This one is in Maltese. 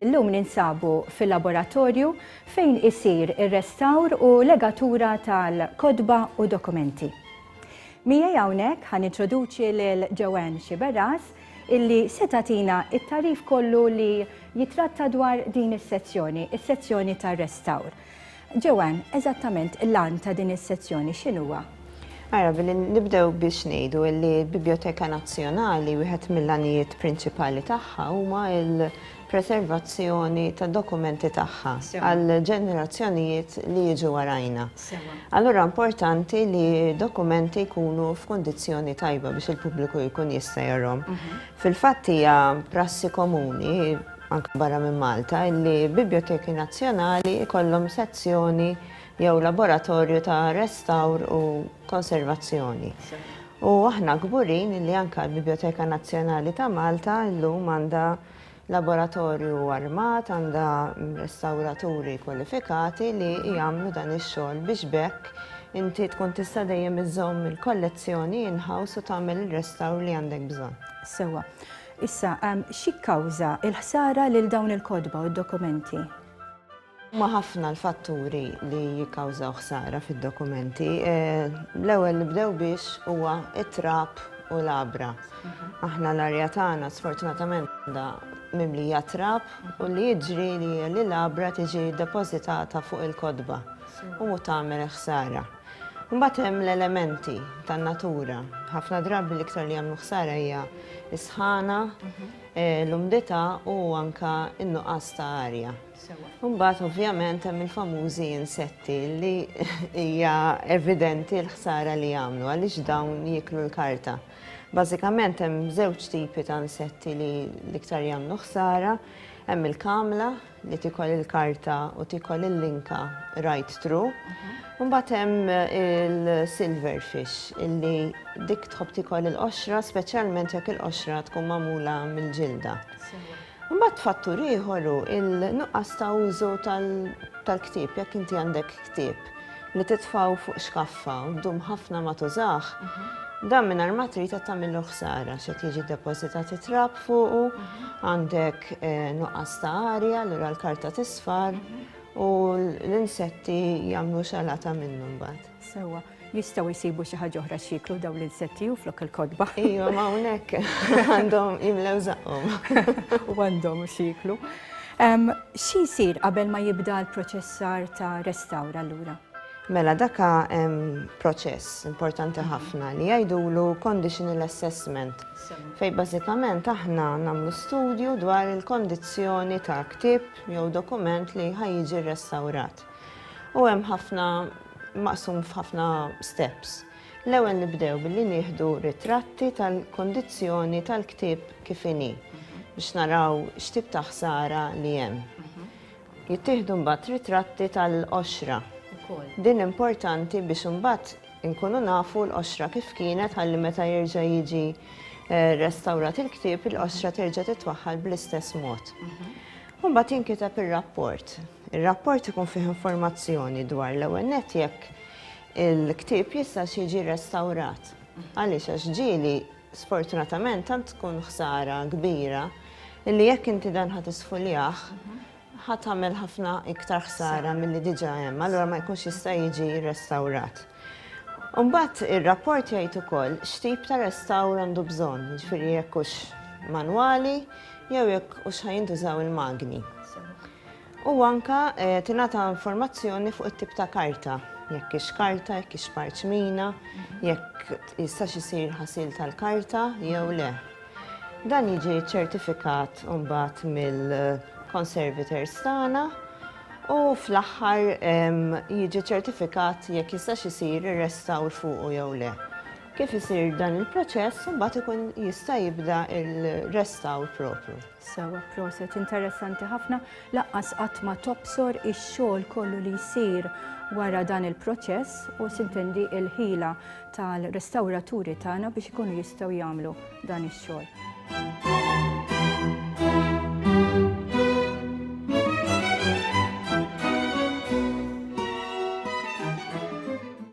Illum ninsabu fil-laboratorju fejn isir ir-restawr u legatura tal-kotba u dokumenti. Miegħi hawnhekk ħan introduċi lil Joanne Xiberras illi se tagħtina t-tagħrif kollu li jittratta dwar din is-sezzjoni, is-sezzjoni tar-restawr. Joanne, eżattament l-għan ta' din is-sezzjoni x'inhuwa? Ara, billi nibdew biex ngħidu illi l-Bibljoteka Nazzjonali wieħed mill-għanijiet prinċipali tagħha huma l, preservazzjoni tad-dokumenti tagħha għall-ġenerazzjonijiet li jiġu warajna. Allura importanti li dokumenti jkunu f'kundizzjoni tajba biex il-pubbliku jkun jista' jarhom. Mhm. Fil-fatt hija prassi komuni anke barra minn Malta li biblioteki nazzjonali jkollhom sezzjoni jew laboratorju ta' restawr u konservazzjoni. U aħna kburin li anka l-Biblioteka Nazzjonali ta' Malta llum għandha Laboratorju armat għandha restawraturi kwalifikati li jagħmlu dan ix-xogħol biex b'hekk inti tkun tista' dejjem iżżomm il-kollezzjoni in-house u tagħmel ir-restawr li għandek bżonn. Sewwa. Issa, x'jikkawża l-ħsara lil dawn il-kotba u d-dokumenti? Huma ħafna l-fatturi li jikkawżaw ħsara fid-dokumenti. L-ewwel nibdew biex huwa it-trab u l-abra. Aħna l-arja tagħna sfortunatament għandha mimlija trab u li jiġri li l-abra tiġi depożitata fuq il-kotba u mu tagħmel ħsara. Mbagħad hemm l-elementi tan-natura. Ħafna drabi l-iktar li jagħmlu ħsara hija s-sħana, l-umdità u anke n-nuqqas ta' arja. Imbagħad ovvjament hemm il-famużi insetti li hija evidenti l-ħsara li jagħmlu għaliex dawn jieklu l-karta. Bażikament hemm żewġ tipi ta' insetti li l-iktar jagħmlu ħsara, hemm il-kamla li tikol il-karta u tikol il-linka right through. Imbagħad hemm il-silverfish illi dik tħobb tikol il-qoxra speċjalment jekk il-qoxra tkun magħmula mill-ġilda. Imbagħad fattur ieħor hu l-nuqqas ta' użu tal-ktieb. Jekk inti għandek ktieb li titfgħu fuq xkaffa u ddum ħafna ma tużah, dan mingħajr ma trid qed tagħmillu ħsara għax qed jiġi depożitat it-trab fuqu, għandek nuqqas ta' arja, allura l-karta tisfar u l-insetti jagħmlu xalata minnu mbagħad. Sewwa. Jistgħu jsibu xi ħaġa oħra x'jieklu dawn l-insetti u flok il-kotba. Ejwa, ma hawnhekk għandhom jimlew żaqhom. U għandhom x'jieklu. Xi jsir qabel ma jibda l-proċessar ta' restawr allura? Mela daka proċess importanti mhm. ħafna li jgħidulu conditional assessment fej bażikament aħna nagħmlu studju dwar il-kondizzjoni ta' ktib jew dokument li ħajjiġi restawrat. U hemm ħafna maqsum f'ħafna steps. L-ewwel nibdew billi nieħdu ritratti tal-kondizzjoni tal-ktieb kif inhi biex naraw x'tip ta' ħsara li hemm. Jittieħdu mbagħad ritratti tal-qoxra. Din importanti biex imbagħad inkunu nafu l-qoxra kif kienet ħalli meta jerġa' jiġi eh, restawrat il-ktieb il-qoxra terġa' titwaħħal bl-istess mod. Mbagħad jinkiteb ir-rapport. Ir-rapport ikun fih informazzjoni dwar l-ewwel nett jekk il-ktieb jistax jiġi rrestawrat. Għaliex għax ġieli sfortunatament tant tkun ħsara kbira li jekk inti dan ħadd isfuljah ħadd tagħmel ħafna iktar ħsara milli diġà hemm, allura ma jkunx jista' jiġi rrestawrat. Imbagħad ir-rapport jgħid ukoll x'tip ta' restawr għandu bżonn, jiġifieri jekk hux manwali jew jekk hux ħajintużaw il-magni. U anke tingħata informazzjoni fuq it-tip ta' karta, jekk hix karta, jekk hix parċmina, jekk jistax isir ħasil tal-karta jew le. Dan jiġi ċċertifikat imbagħad mill-conservators tagħna u fl-aħħar jiġi ċċertifikat jekk jistax isir ir-restawr fuqu jew le. Kif isir dan il-proċess imbagħad ikun jista' jibda r-restawr proprju. Sewa, proset, interessanti ħafna, laqqas qatt ma tobsor ix-xogħol kollu li jsir wara dan il-proċess u sintendi il-ħila tal-restawraturi tagħna biex ikunu jistgħu jagħmlu dan ix-xogħol.